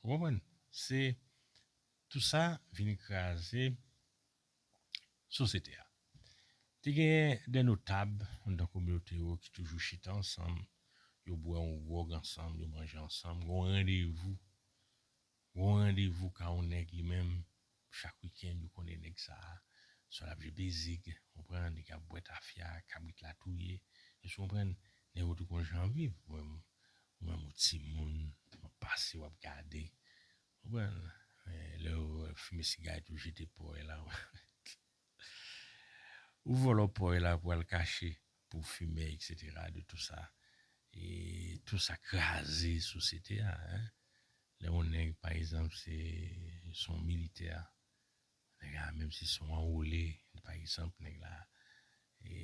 Ou konprann? Se tout sa vin kraze sosyete a. Te genyen de notab anndan kominote yo ki toujou chita ansanm, yo bwè yon gwòg ansanm, yo manje ansanm, gen yon randevou. Gen yon randevou ka yon nèg li menm Chak weekend yo konnen nèg sa a swa lap jwe bezig, konprann, li ka bwè tafya, kabrit la touye, èske w konprann, nèg yo tou konn jan an viv, ou menm ou menm ou timoun wap pase wap gade, konprann, men lè yo wè wap fimen sigarèt ou jete pòy la ou vòlò pòy la pou al kache pou w fimen etc. De tou sa e tou sa kraze sosyete a hein. Lè yon nèg pa egzanp se son militè, nèg la menm si son anwole pa egzanp nèg la e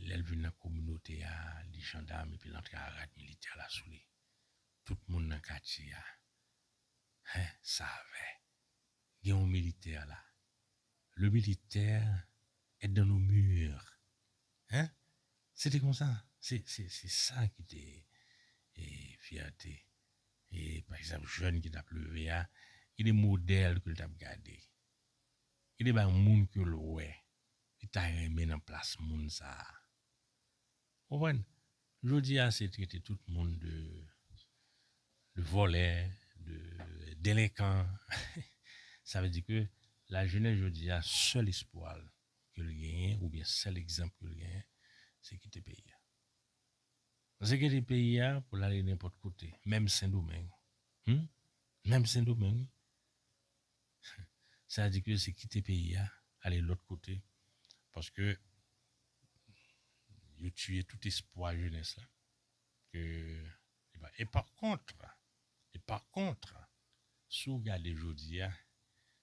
lèl vin nan kominote a li jandam epil antre a rad militè la sou li tout moun nan katye a hein savè gen yon militè la le militaire est dans nos murs hein se te konsa se se sa ki te e fyète E pa egzanp jèn ki tap leve a, ki de modèl ke l tap gade? Ki de bagay moun ke l wè li ta renmen nan plas moun sa a? Ou konprann? Jodi a se trete tout moun de de vòlè, de delenkan. Sa vle di ke lajenès jodi a sèl espwa l ke l genyen oubyen sèl egzanp ke l genyen se kite peyi a. Ze kite peyi a pou l ale nenpòt kote, menm Sendomeng. Hum! Menm Sendomeng wi! Sa di ke se kite peyi a, ale lòt kote, paske yo tiye tout espwa jenès la, ke li pa. E pa kontre, e pa kontre, si w gade jodi a,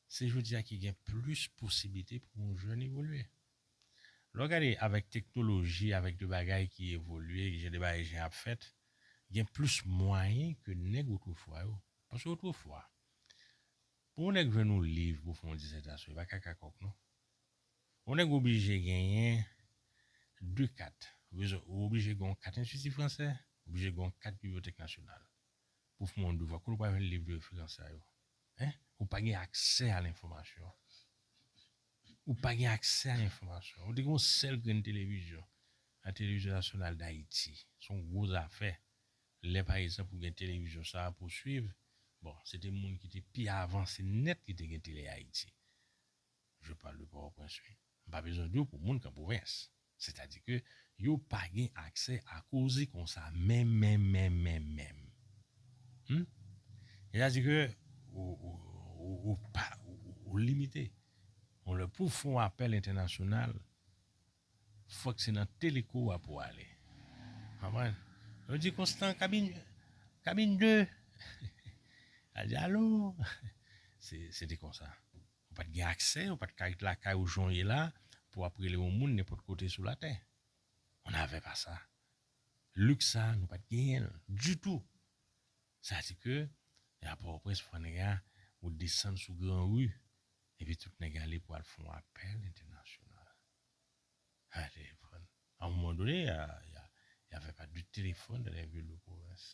se jodi a ki gen plis posiblite pou yon jèn evolye. Lè w gade avèk teknoloji, avèk de bagay ki evolye, jan de bagay jan y ap fèt, gen plis mwayen ke nèg otrefwa yo. Paske otrefwa, pou yon nèg jwenn yon liv pou fè yon dizètasyon, li pa ka kakòk non. Yon nèg oblije genyen de kat. Ou oblije gen yon kat Enstiti Fransè, ou oblije gen yon kat Bibliyotèk Nasyonal pou w fè yon devwa. Kote w pral jwenn liv de referans sa yo? Hein? Ou pa gen aksè a lenfòmasyon. Ou pa gen aksè a enfòmasyon. Ou te gen yon sèl grenn televizyon, La Télévision Nationale d'Haïti. Se yon gwo zafè. Lè pa egzanp ou gen televizyon sa a pou w suiv, bon, se te moun ki te pi avanse nèt ki te gen Télé-Haïti. Je parle de Port-au-Prince, wi. M pa bezwen di w pou moun ki an pwovens. Sètadi ke yo pa gen aksè a koze konsa menm menm menm menm menm. Hum? Sètadi ke ou ou ou pa ou ou limite. Yon lè pou w fè yon apèl entènasyonal, fòk se nan teleko a pou w ale. Konprann? Yo di Konstan, kabin kabin 2! Al di alo! Se se te konsa. Ou pa t gen aksè, ou pa t ka ret lakay ou jan w ye la pou w ap rele yon moun nenpòt kote sou latè. On n'avait pas ça. Liks sa a, nou pa t genyen l ditou. Sa a di ke a Pòtoprens pou fè nèg a, ou desann sou gran ri epi tout nèg ale pou al fè yon apèl entènasyonal. A un moman done, y avè pa de telefòn dan lè vil de pwovens.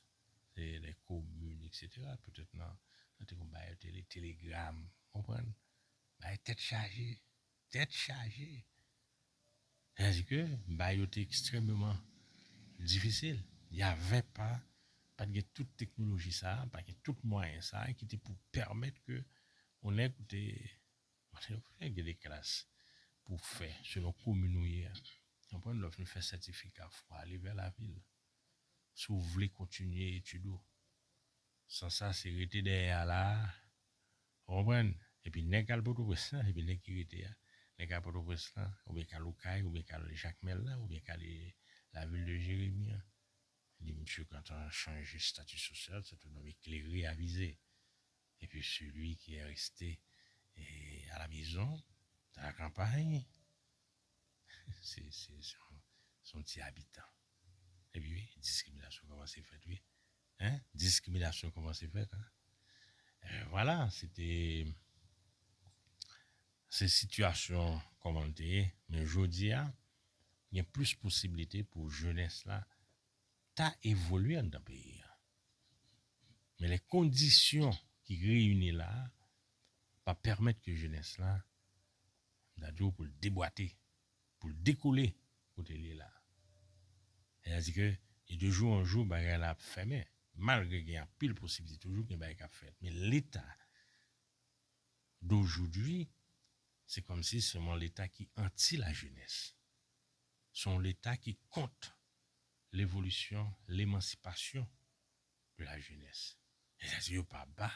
Se lè komin, eksetera, petèt nan te kon bagay yo te rele telegram. Ou konprann? Bagay tèt chaje. Tèt chaje! Sètadi ke bagay yo te ekstrèmeman difisil. Y avè pa, pa t gen tout teknoloji sa a, pa gen tout mwayen sa a ki te pou pèmèt ke yon nèg ou te Paske nou konnen gen de klas pou w fè selon komin ou ye a. Ou konprann? Lè w fin fè sètifika fwa ale vè lavil. Si w vle kontinye etid ou. San sa se rete dèyè a la a. Ou konprann? Epi nèg k al Pòtoprens lan, epi nèg ki rete a. Nèg k al Pòtoprens lan oubyen k al Okay oubyen k al Jakmèl la oubyen k ale lavil de Jeremi an. Li misye gentan chanje stati sosyal, se tou nonm eklere avize. et que celui qui est resté à la maison dans la campagne se yon ti abitan epi wi diskriminasyon kòmanse fèt wi hein diskriminasyon kòmanse fèt hein voilà se te se sitiyasyon kòman l te ye men jodi a gen plis posibilite pou jenès la ta evolye anndan peyi a. Men lè kondisyon ki reyini la a pa pèmèt ke jenès la, m ta di w pou l debwate, pou l dekole kote l ye la a. Sètadi ke e de jou an jou bagay la ap fèmen, malgre gen anpil posiblite toujou gen bagay k ap fèt. Men leta dojoudwi se kòmsi sèlman leta ki anti lajenès. Se yon leta ki kont levolisyon, lemansipasyon de la jenès. Sètadi yo pa ba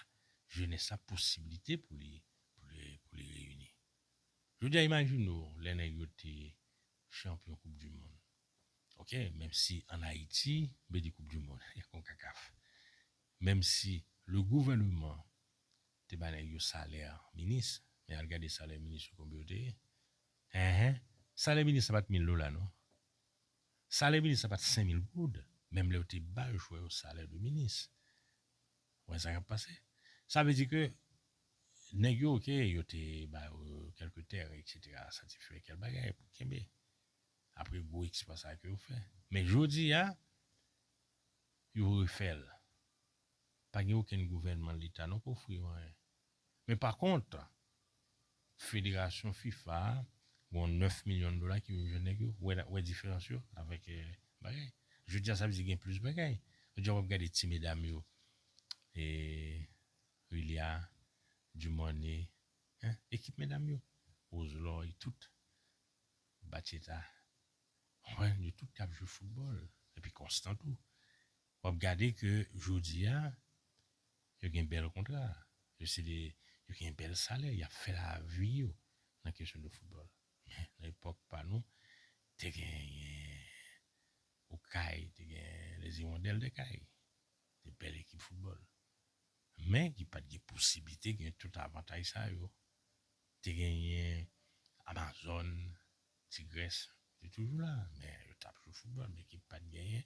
jenès la posibilite pou li pou li reyini. Jodi a imajine w lè nèg yo te chanpyon koup di mond ok menm si an Ayiti m pe di koup di mond e konkakaf menm si le gouvèneman te ba nèg yo salè minis men al gade salè minis yo konbe yo te ye Enh salè minis la pat mil dola non salè minis la pat 5 mil goud menm lè yo te bal jwè yo salè de minis ou wè sa kap pase sa vle di ke nèg yo ok yo te ba yo kelke tèren etc sa te fè kèl bagay pou kenbe apre gwo eksplwa sa ke yo fè men jodia yo refèl. Pa gen okenn gouvènman leta non k ofri yo anyen. Men pa kont, federasyon fifa a gon 9 milyon dola ki vin jwenn nèg yo. Wè wè diferans yo avèk bagay. Jodi a sa vle di gen plis bagay. Jodi a w ap gade ti medam yo e Rilya, Dumornay hein ekip medam yo. Roselori tout. Batcheta. Ou konprann yo tout ap jwe foutbòl. Epi konstan tou. W ap gade ke jodi a, yo gen bèl kontra, yo se de, yo gen bèl salè, y ap fè lavi yo nan kesyon de foutbòl. Men, nan epòk pa nou, te genyen Okay, te gen Les Hirondelles de Cayes, de bèl ekip foutbòl. Men, ki pa t gen posiblite gen tout avantaj sa yo. Te genyen Amazone, Tigres te toujou la, men yo tap jwe foutbòl, men ki pat genyen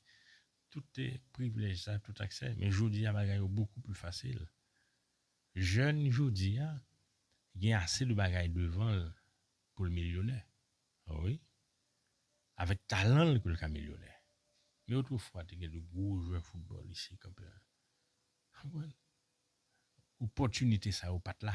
tout privilèj sa, tout aksè. Men jodi a bagay yo bokou pli fasil. Jèn jodi a gen ase de bagay devan l pou l milyonè. Wi, avèk talan l ke l ka milyonè. Men otrefwa te gen de gwo jwè foutbòl isi Kanpè. Konprann? Opòtinite sa yo pat la.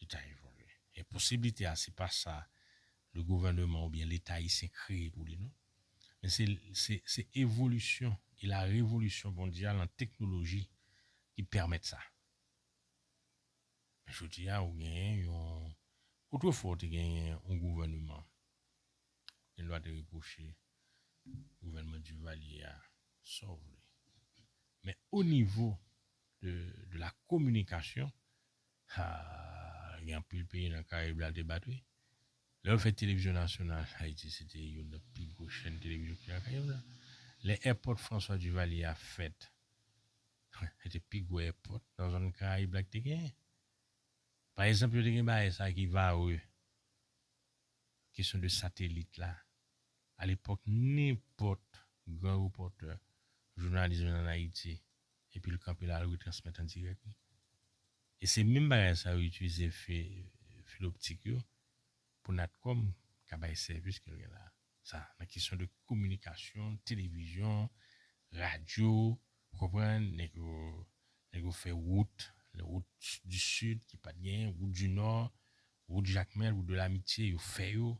Li ta evolye. E posiblite a se pa sa le gouvèneman oubyen leta ayisyen kreye pou li non. Men se se se evolisyon e la revolisyon mondyal an teknoloji ki pèmèt sa. Men jodi a ou genyen yon otrefwa ou te genyen yon gouvèneman ou gen dwa te repwoche gouvèneman Duvalier a sa w vle men onivo de de la kominikasyon Haa gen anpil peyi nan karib la te bat wi lè yo fè televizyon nasyonal ayiti se te youn nan pi gwo chèn televizyon ki te nan karib la lè èpòt François Duvalier a fèt se te pi gwo èpòt nan zòn karayib la ki te genyen pa ezanp yo te gen baay sa ki varreux kesyon de satelit la, alepòk nenpòt gran repòtè, jounalis vin ann Ayiti epi l kanpe l al retransmèt an dirèk li. E se menm bagay sa yo itilize filoptik yo pou Natcom ka bay sèvis ke l gen la sa nan kesyon de kominikasyon, televizyon, radyo, ou konprann, nèg yo nèg yo fè wout, wout di sid ki pa t genyen, wout di nò, Wout Jakmèl, Wout de l'Amitié yo fè yo,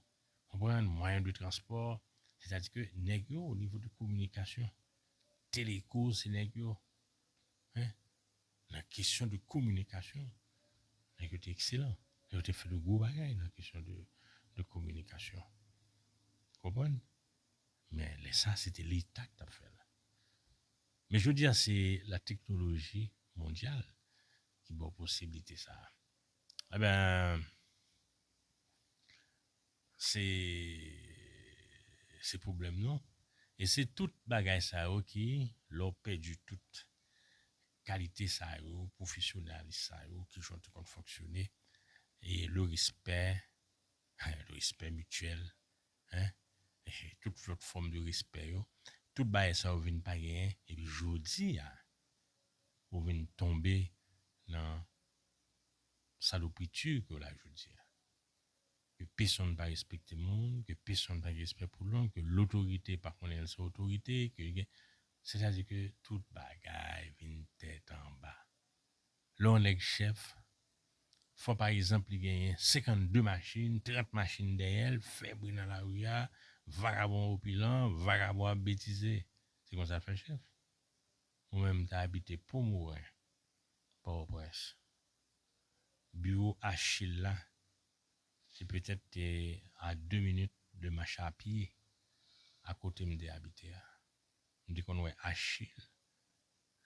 konprann, mwayen de transpò, sètadi ke nèg yo o nivo de kominikasyon, Teleco se nèg yo, hein, nan kesyon de kominikasyon, nèg yo te ekselan, nèg yo te fè de gwo bagay nan kesyon de de kominikasyon. Ou konprann? Men lè sa se te leta ki t ap fè l. Men jodi a se la teknoloji mondyal ki ba w posiblite sa a. Ebyen se se pwoblèm nou e se tout bagay sa yo ki lè w pèdi tout kalite sa yo, pwofesyonalis sa yo, kijan w te konn fonksyone e le respè le respè mityèl tout lòt fòm de respè yo tout bagay sa yo vin pa genyen epi jodi a ou vin tonbe nan salopri turc yo la jodia ke pesonn pa respekte moun ke pesonn pa gen respè pou lòm ke lotorite pa konnen l se otorite ke gen sètadi ke tout bagay vin tèt anba lè yon nèg chèf fò pa egzanp li genyen 52 machin 30 machin dèyè l fè bri nan lari a vagabon opilan vagabon ap betize se konsa l fè chèf mwen menm m ta abite pomerin. Pòtoprens. Biwo Achille la te petèt te a 2 minit de mach a pye a kote m te abite a. M te konn wè Achille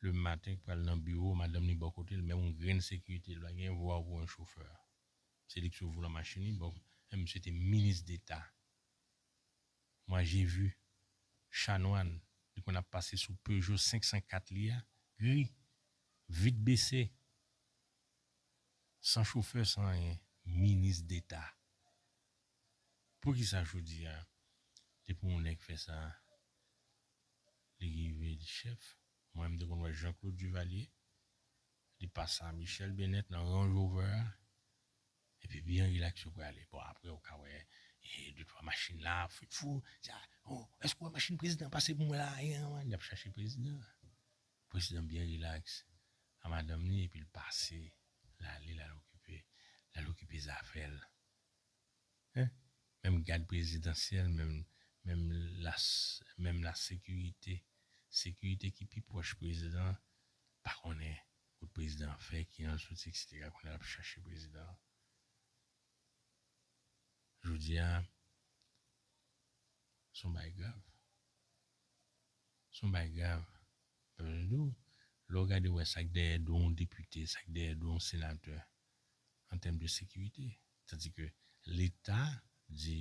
le maten k pral nan biwo, madanm li bò kote l, menm yon grenn sekirite li pa gen, yo voye w pou yon chofè. Se li k sou volan machin li, bon, men misye te minis deta. manje vu chanwan li konn ap pase sou peugeot 504 li a gri vit bese san chofè san anyen minis deta poukisa jodia depi yon nèg fè sa li rive li chèf mwen mte konn wè jean claude duvalier li pasa michel benet nan range rover a Epi byen rilaks yo prale. Bon apre ou ka wè de twa machin la ap fèt fou. Èske ou wè machin prezidan pase pou mwen la a? Li ap chache prezidan. Prezidan byen rilaks a madanm li epi l pase l ale l al okipe l al okipe zafè l. Menm gad prezidansyèl menm lasekirite sekirite ki pi pwòch prezidan pa konnen Kot prezidan an fè ki al soti etc kounya lap chache prezidan an jodia son bagay grav son bagay grav pa bezwen di w lè w gade wè sak dèyè do yon depite sak dèyè do yon senatè an tèm de sekirite tandike leta di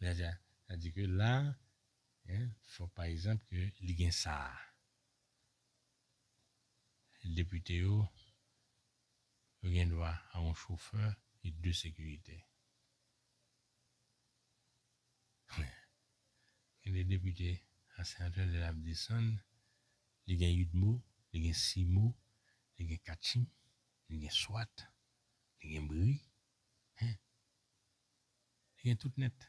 Lè sa sa di ke la hein fòk pa egzanp ke li gen sa a. Depite yo yo gen dwa a yon chofè e de sekiritè. Kounye a gen de depite a senatè lè l ap desann li gen udmo, li gen simo, li gen katchim, li gen swat, li gen bri hein Li gen tout nèt.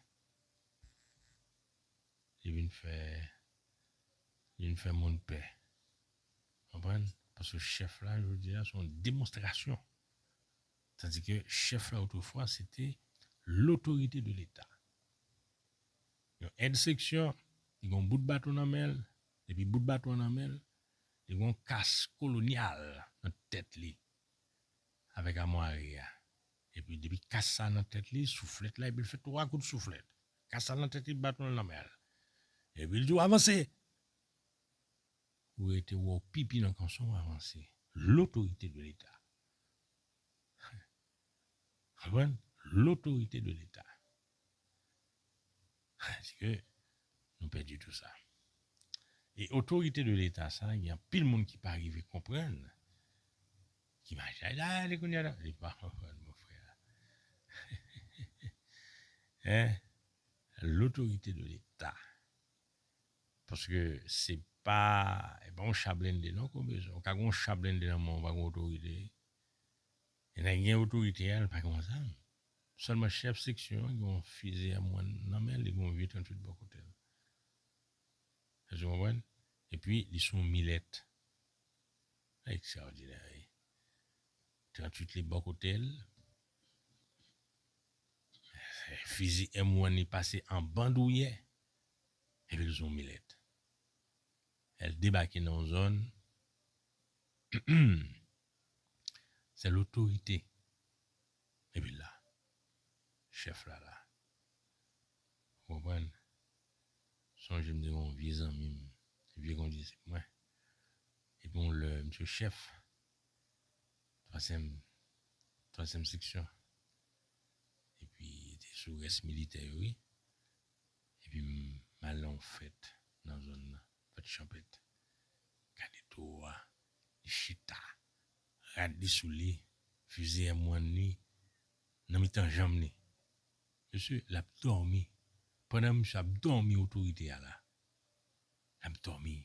Li vin fè, li vin fè moun pè. Konprann? Paske chèf la jodi a se yon demonstrasyon. Tandi ke chèf la otrefwa se te lotorite de leta. Yon èd seksyon, li gen yon bout baton nan men l, depi bout baton an nan men l, li gen yon kas kolonyal nan tèt li avèk amwari a. Epi depi kas sa nan tèt li, souflèt la epi l fè twa kout souflèt. Kas sa nan tèt li, baton l nan men l. Epi l di w avanse! Ou rete wè w pipi nan kanson w avanse. L'autorité de l'Etat. Konprann? L'autorité de l'Etat. Eske nou pèdi tou sa? E otorite de leta sa gen anpil moun ki pa rive konprann ki machay la ale kounye la li pa konprann mon frè hein l'autorité de l'Etat paske se pa e pa yon cha blende non kombrezo ou ka gen yon cha blende nan men w pa gen otorite e nèg gen otorite a li pa gen yon zam Sèlman chèf seksyon an gen yon fizi M wan nan men l, li gen yon vye 38 bò kote l. Èske nou konprann? Epi li sou yon milèt. Sa ekstraòdinè wi. 38 li bò kote l. Fizi M wan li pase an bandouyè. Epi l sou yon milèt. Lè l debake nan yon zòn, se l otorite. Epi la. Chèf la la. Ou konprann? Sonje m te gen yon vye zanmi m, vye kondisip mwen. Epi yon lè misye chèf twazyèm twazyèm seksyon. Epi li te sou rès militè yo wi. Epi m al nan yon fèt nan zòn nan, fèt chanpèt. Gade toro a, li chita Rad li sou li, fizi en mwann li nan mitan janm li. Mesye, l ap dòmi. Pandan misye ap dòmi otorite a la. L ap dòmi.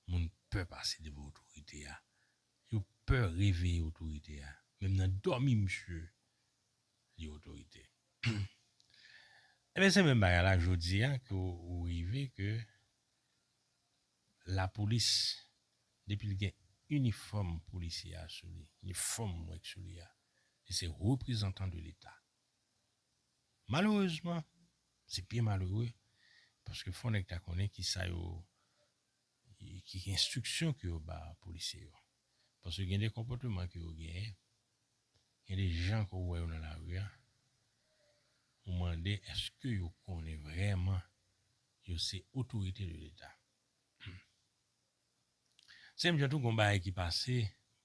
Moun pè pase devan otorite a. Yo pè reveye otorite a. Menm nan dòmi misye li otorite. Enben se menm bagay la jodi a ke ou rive ke Lapolis depi li gen inifòm polisye a sou li, inifòm mwen k sou li a, li se reprezantan de leta. Malerezman, se byen malere paske fò nèg ta konnen ki sa yo, ki enstriksyon ke yo ba polisye yo. Paske gen de konpòteman ke yo genyen, gen de jan ke w wè yo nan lari a, ou mande eske yo konnen vrèman Yo se otorite de leta. Humm. Se menm jan tou gon bagay ki pase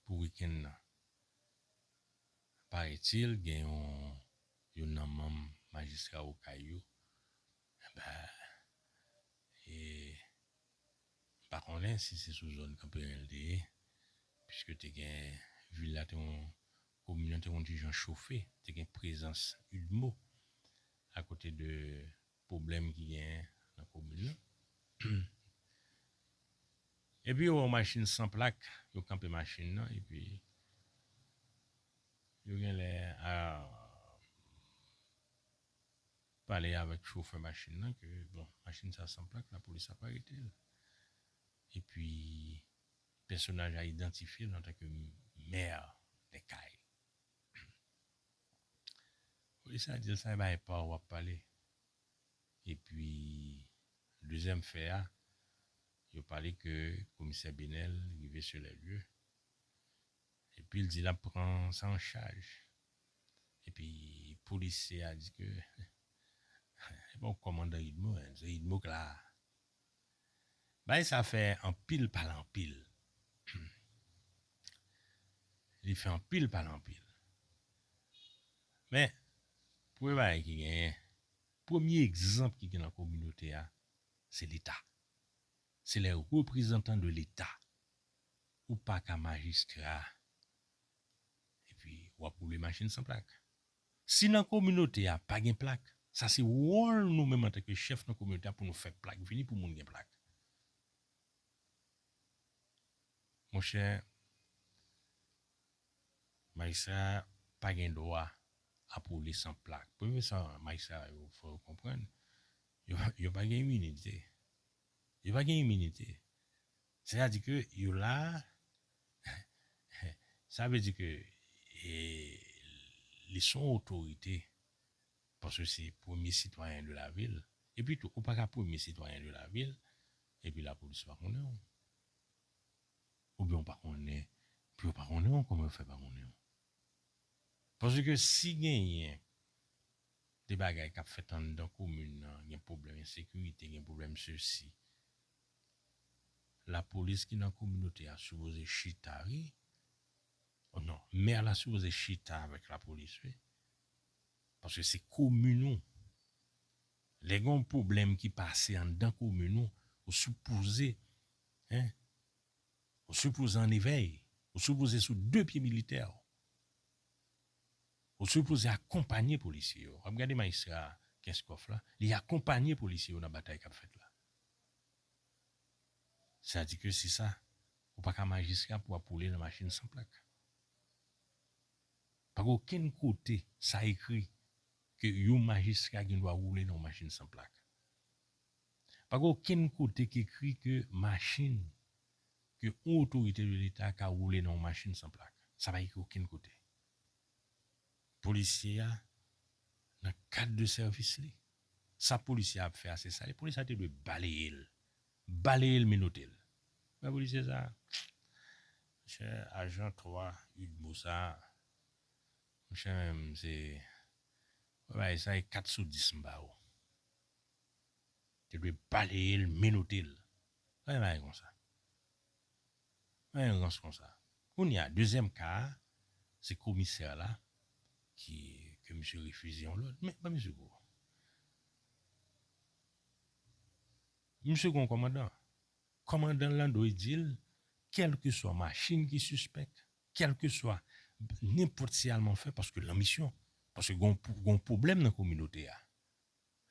pou weekend nan. Paretil gen yon youn nan manm majistra okay yo enben e m pa konnen si se sou zòn kanperen l te ye piske te gen vil la te yon komin nan te yon ti jan chofe te gen prezans udmo akote de Pwoblèm ki genyen nan komin nan. Epi yo wè yon machin san plak, yo kanpe machin nan epi yo genlè ap pale avèk chofè machin nan ke bon machin sa san plak lapolis ap arete l. Epi pèsonaj la idantifye l antanke mè Dèkay. Wi sa dil sa epa epaw wap pale epi dezyèm fè a yo pale ke komisè Benel rive sur les lieux epil di lap pran sa an chaj epi polisye a di ke epa w komandan udmo se udmo k la. Bagay sa fè anpil pale anpil humm li fè anpil pale anpil men premye bagay ki genyen premye egzanp ki gen nan kominote a se leta se lè reprezantan de leta ou paka majistra epi wap woule machin san plak. Si nan kominote a pa gen plak, sa se wòl nou menm antanke chèf nan kominote a pou nou fè plak vini pou moun gen plak. Monchè, majistra pa gen dwa ap woule san plak. Premye sa majistra yo fò yo konprann, yo pa gen iminite. Yo pa gen iminite. Se ta di ke yo la a, sa vle di ke li son otorite paske se premye sitwayen de la vil. Epi tou, ou pa ka premye sitwayen de la vil epi lapolis pa konnen ou. Oubyen ou pa konnen, epi yo pa konnen ou, kòman yo fè pa konnen ou? Paske ke si genyen de bagay k ap fèt anndan komin nan, gen pwoblèm ensekirite, gen pwoblèm sesi, La polis ki nan kominote a sipoze chita wi oh non mè la sipoze chita avèk la polis wi paske se komin ou lè gen yon pwoblèm ki pase anndan komin ou ou sipoze hein ou sipoze an evèy ou sipoze sou de pye militè ou ou sipoze akonpanye polisye yo wap gade majistra Kenskòf la li akonpanye polisye yo nan batay kap fèt la. Sa di ke si sa, ou pa ka majistra pou ap woule nan machin san plak. Pa gen okenn kote sa ekri ke yon majistra gen dwa woule nan yon machin san plak. Pa gen okenn kote ki ekri ke machin, ke yon otorite de leta ka woule nan yon machin san plak. Sa pa ekri okenn kote. Polisye a nan kad de sèvis li. Sa polisye a ap fè a se sal ye. Polisye a te dwe baleye l. Baleye l menote l. Men polisye sa a. Monchè ajan 3 udmo sa a. Monchè men m se. Mwen bay sa e 4 sou 10 m ba ou. Te dwe baleye l menote l. Gade bagay konsa. Mwen gen rans konsa. Kounye a, dezyèm ka a, se komisè la ki ke misye refize yon lòd. Men, ban misye kou. Misye gen yon kòmandan. Kòmandan l lan dwe di l, kèlkeswa machin ki sispèk, kèlkeswa nenpòt siyalement fè paske l lan misyon, paske gen yon pwoblèm nan kominote a.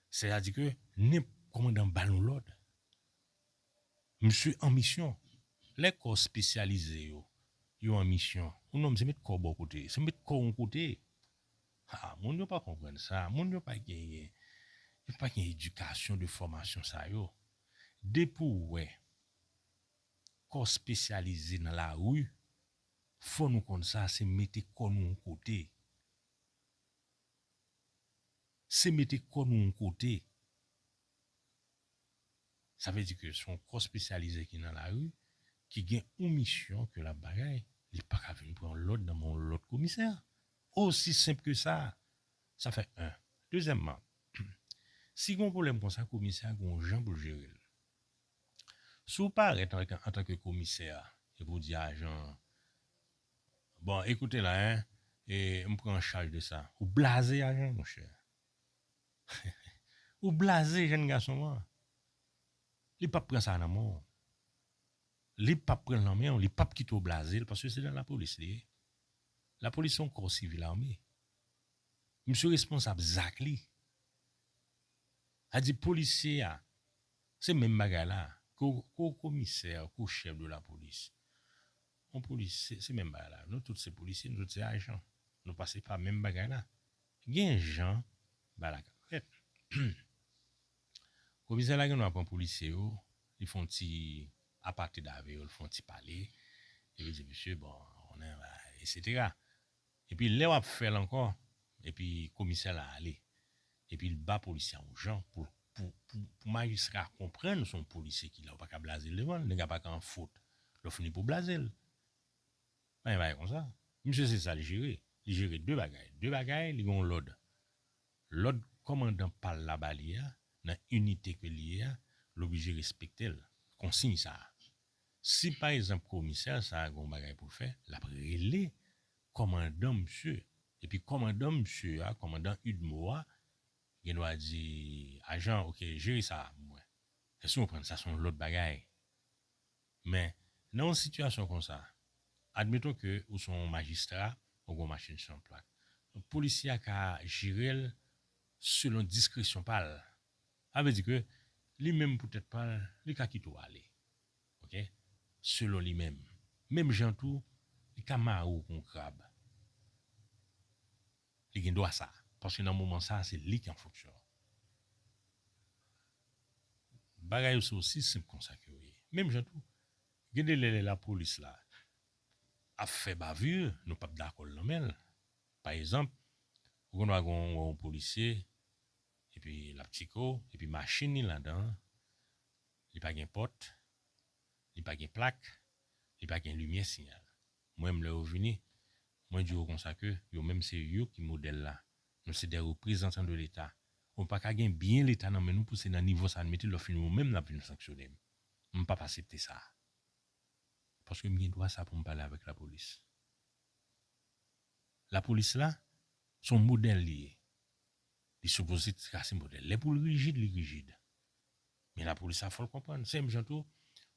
Sè a di ke nenp kòmandan ba nou lòd, misye an misyon. Lè kò spesyalize yo, yo an misyon, yon nonm se met kò w bò kote, se met kò w yon kote. Ha, moun yo pa konprann sa, moun yo pa genyen, yo pa gen edikasyon de fòmasyon sa yo. Depi w wè kò spesyalize nan lari, fò nou konn sa, se mete kò nou yon kote. Se mete kò nou yon kote. Sa vle di ke se yon kò spesyalize ki nan lari, ki gen yon misyon ke lap bagay, li pa ka vin pran yon lòd nan men yon lòt komisè. Osi senp ke sa. Sa fè 1. Dezyèmman, si gen yon pwoblèm konsa komisè a gen yon jan pou l jere l. Si w parèt antanke komisè epi w di ajan an. Bon ekoute la hein e m pran an chaj de sa. Ou blaze ajan monchè. Ou blaze jèn gason an. Li pap pran sa nan men w. Li pap pran nan men w, li pap kite w blaze l paske se nan lapolis li ye. Lapolis se yon kò sivil ame. Misye responsab zak li. A di polisye a se menm bagay la. Ke w komisè, ke w chèf de lapolis. On polis se menm bagay la nou tout se polisye nou tout se ajan nou pase pa menm bagay la gen jan bagay la kap fèt humm komisè la gendwa pran polisye yo li fon ti apatrid avè yo li fon ti pale epi li di mesye bon ou konnen bagay la etc Epi lè wap fèl ankò epi komisè la ale epi l ba polisye a yon jan pou pou majistra a konprann se yon polisye ki la ou paka blaze l devan l nèg la paka an fot lè w fini pou w blaze l pa gen bagay konsa misye se sa l jere li jere 2 bagay 2 bagay li gen yon lòd lòd kòmandan pa l la ba li a nan inite ke l ye a l oblije respekte l konsiy sa Si pa ezanp komisè sa a gen yon bagay pou l fè, l ap rele kòmandan misye, epi kòmandan misye a, kòmandan udmo a, gen dwa di, Ajan, ok, jere sa a pou mwen. Èske nou konprann? Sa se yon lòt bagay. Men, nan yon sitiyasyon konsa, admeton ke ou se yon majistra, ou gen yon machin san plak. Polisye a ka jere l selon diskresyon pa l, Sa vle di ke li menm pou tèt pa l, li ka kite w ale. Ok. Selon li menm. Menm jan tou, li ka mare w kou yon krab. Li gen dwa sa. Paske nan moman sa a, se li ki an fonksyon. Bagay yo se osi senp kon sa ke yo ye. Menm jan tou, gen de lè lè lapolis la ap fè bavure, nou p ap dakò l nan men l. Pa egzanp, ou gen dwa gen yon polisye Epi lap tiko epi machin li ladanl li pa gen pòt li pa gen plak li pa gen limyè siyal m wèm lè yo vini mwen di yo konsa ke yo menm se yo ki modèl la nou se dè reprezantan de leta ou paka gen byen leta nan men nou pou se nan nivo sa n mete lò fini ou menm nap vin sanksyonem m pap asepte sa paske m gen dwa sa poum pale avèk lapolis lapolis la son modèl li ye. Li sipoze trase modèl. Lè pou l rijid, li rijid. Men lapolis la fò l konprann. Se menm jan tou,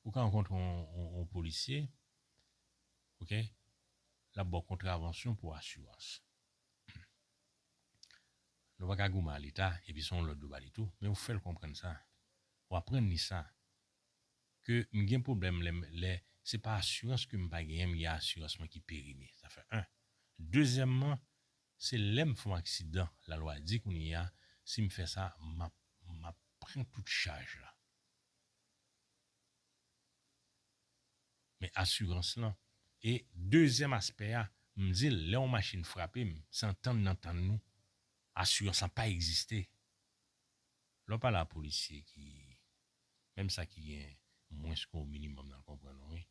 ou ka rankontre yon polisye, ok, l ap ba w kontravansyon pou asirans. Nou pa ka goumen a Leta, epi se yon lòd yo ba li tou, men ou fè l konprann sa, ou aprann li sa, ke m gen pwoblèm lè se pa asirans ke m pa genyen, m gen asirans mwen ki perime. Sa fè 1. Dezyèmman, Se lèm fon aksidan la lwa di kounye a sim fè sa map map pran tout chaj la men asirans lan e dezyèm aspè a m dil lè yon machin frapem se antann nan tann nou asirans lan pa egziste lò pale a polisye ki Menm sa ki gen mwens ke w minimum nan konprann ou wi.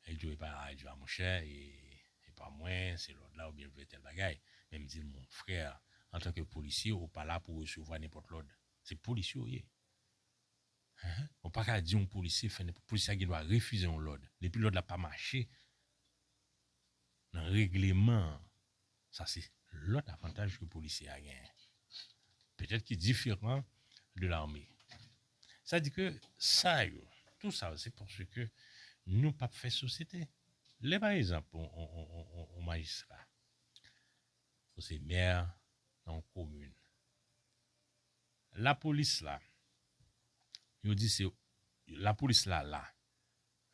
Li di w epa radyo a monchè e epa mwen se lòd la oubyen l vle tèl bagay. Men m di l mon frè antanke polisye ou pa la pou w resevwa nenpòt lòd. Se polisye ou ye. Ehe ou paka di yon polisye fè nenpòt polisye a gen dwa refize yon lòd depi lòd la pa mache nan regleman an, sa se lòt avantaj ke polisye a genyen, petèt ki diferan de lame. Sa di ke sa yo, tou sa yo se paske nou pap fè sosyete. Lè pa ekzanp yon majistra, ou se mè nan yon komin, lapolis la, yo di se, lapolis la la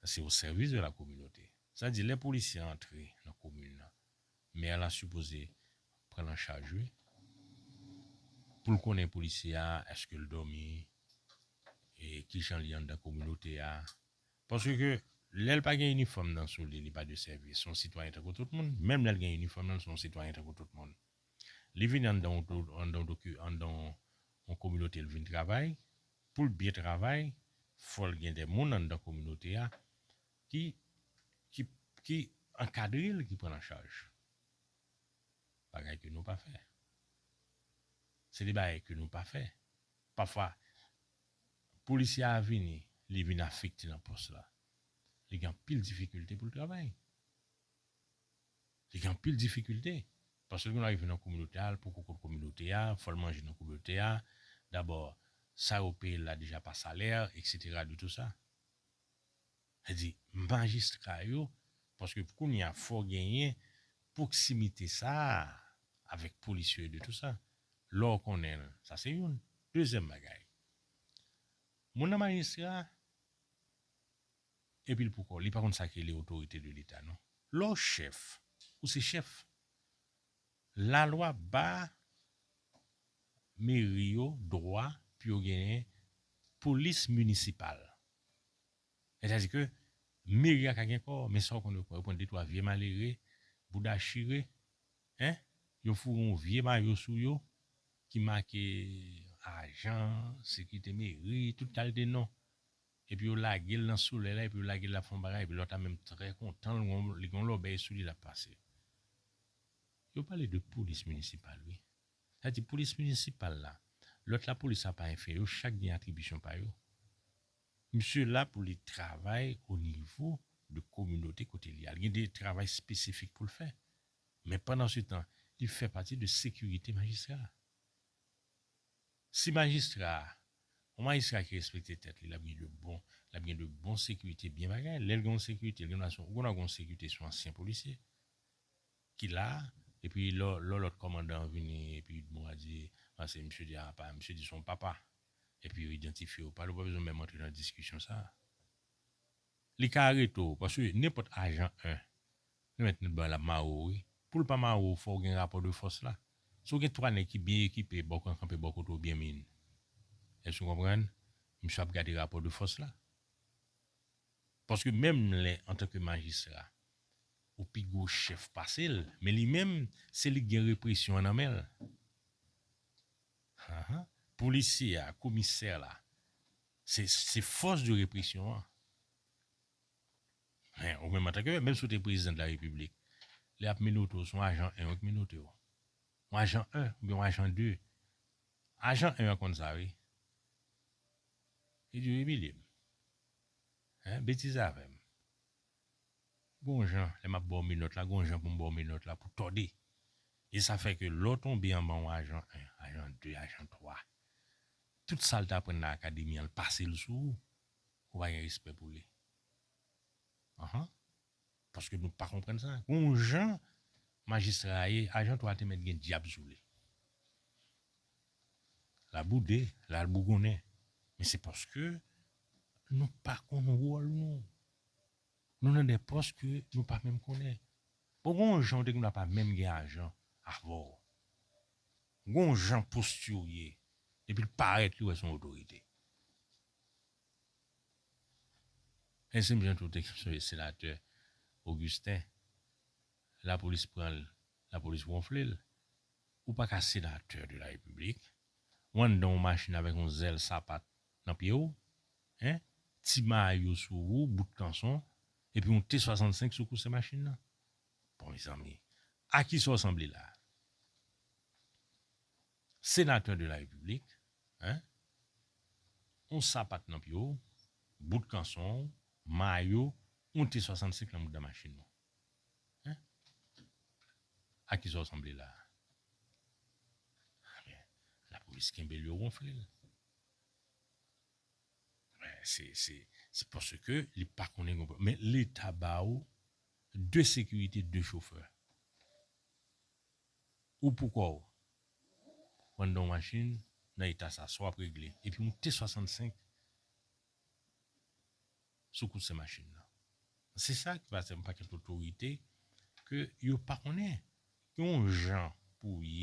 Sa se au service de la communauté. Sa di lè polisye an antre nan komin nan, mè la sipoze pran l an chaj wi. Pou l konnen polisye a eske l dòmi, e kijan li anndan kominote a. Paske ke lè l pa gen inifòm nan sou li, li pa de sèvis. Se yon sitwayen tankou tout moun. Menm lè l gen inifòm nan, l se yon sitwayen tankou tout moun. Li vini anndan yon do, anndan yon do ki, anndan yon yon kominote l vin travay. Pou l byen travay, fò l gen de moun anndan kominote a ki, ki, ki ankadre l, ki pran l an chaj. Bagay ke nou pa fè. Se de bagay ke nou pa fè. Pafwa, polisye a vini, li vin afekte nan pòs la. Li gen anpil difikilte pou l travay. Li gen anpil difikilte. Paske gen lè w rive nan kominote a, l poko konn kominote a, fò l manje nan kominote a, dabò sa yo peye l la deja pa salè, eksetera de tou sa. Sa di, majistra yo, paske kounye a fò genyen pwoksimite sa a avèk polis yo e de tou sa. Lè w konnen l, sa se youn. Dezyèm bagay, moun nan majistra, Epi l poukò li pa konn sa k rele otorite de leta non. Lè w chèf, ou se chèf. Lalwa ba meri yo dwa pou yo genyen polis minisipal. Sètadi ke meri a ka gen kò, men sa w konn yo pran? Yo pran de twa vye malere, bouda chire, hein, yo foure yon vye mayo sou yo ki make ajan sekirite meri, tout kalte non. Epi yo lagel nan solèy la epi yo lagel lap fè yon bagay epi lòt la menm trè kontan li gen yon lòbèy sou li lap pase. Yo pale de polis minisipal wi. Sa di polis minisipal la, lòt la polis la pa enfè yo chak gen atribisyon pa yo. Misye la pou li travay o nivo de kominote kote li a. Li gen de travay espesifik poul fè. Men pandan se tan li fè pati de sekirite majistra a. Si majistra a, yon majistra ki respekte tèt li, l ap gen de bon, l ap gen de bon sekirite, byen bagay, lè l gen yon sekirite, l gen dwa se yon, ou konn wè gen yon sekirite se yon ansyen polisye ki la a, epi lò lò lòt kòmandan an vini epi bon a di a se misye di a apa, misye di se yon papa, epi yo idantifye yo pa li, ou pa bezwen menm antre nan diskisyon sa a. Li ka arete w, paske nenpòt ajan 1, Nou mèt nou dwa lap mare w wi. Poul pa mare w fòw gen rapò de fòs la. Si w gen 3 nèg ki byen ekipe baw kan kanpe bò kote w byen min. Èske nou konprann? Misye ap gade rapò de fòs la. Paske menm lè antanke majistra ou pi gwo chèf pase l men li menm se li k gen represyon an nan men l. Haha polisye a komisè la se se fòs de represyon an. Ou menm antanke menm si w te prezidan de la repiblik, lè y ap minote w, se yon ajan 1 yo k minote w. Yon ajan 1 oubyen yon ajan 2. Ajan 1 an konn sa wi. Li di yo imilye m. Betize avè m. Gon jan lè m ap ba w minòt la, gon jan pou m ba w minòt la pou tòde. E sa fè ke lè w tonbe anba yon ajan 1, ajan 2, ajan 3, tout sa l te aprann nan akademi an, l pase l sou ou. Ou pa gen respè pou li. Anhan. Paske nou pa konprann sa. Gon jan majistra a ye, ajan 3 a te mèt gen dyab sou li. La boude, la al bougonnen. Men se paske nou pa konn wòl nou. Nou nan de pòs ke nou pa menm konnen. Bon gon jan ou te gen dwa pa menm gen ajan avè w. Gon jan posti w ye. Depi l parèt li wè se yon otorite. Mèsi mnje tout ekip sove senatè Augustin lapolis pranl lapolis wonflel ou paka senatè de la repiblik ou anndan yon machin avèk yon zèl sapat nan pyew hein ti mayo sou ou bout kanson epi yon t 65 sou kouse machin nan bon mezanmi a kisa ou sanble la. Senateur de la République hein on sapat nan pye w bout kanson w mayo on t 65 nan mouda machin w hein a kisa w sanble la a men la police kenbe l yo ronfle l men se se se paske li pa konnen gon pwob men leta ba w 2 sécurité 2 chofè. Ou pou kòw Mandan yon machin nan eta sa sa wap regle epi yon t 65 sou kout se machin nan se sa ki pase yon pakèt otorite ke yo pa konnen gen yon jan pou ye.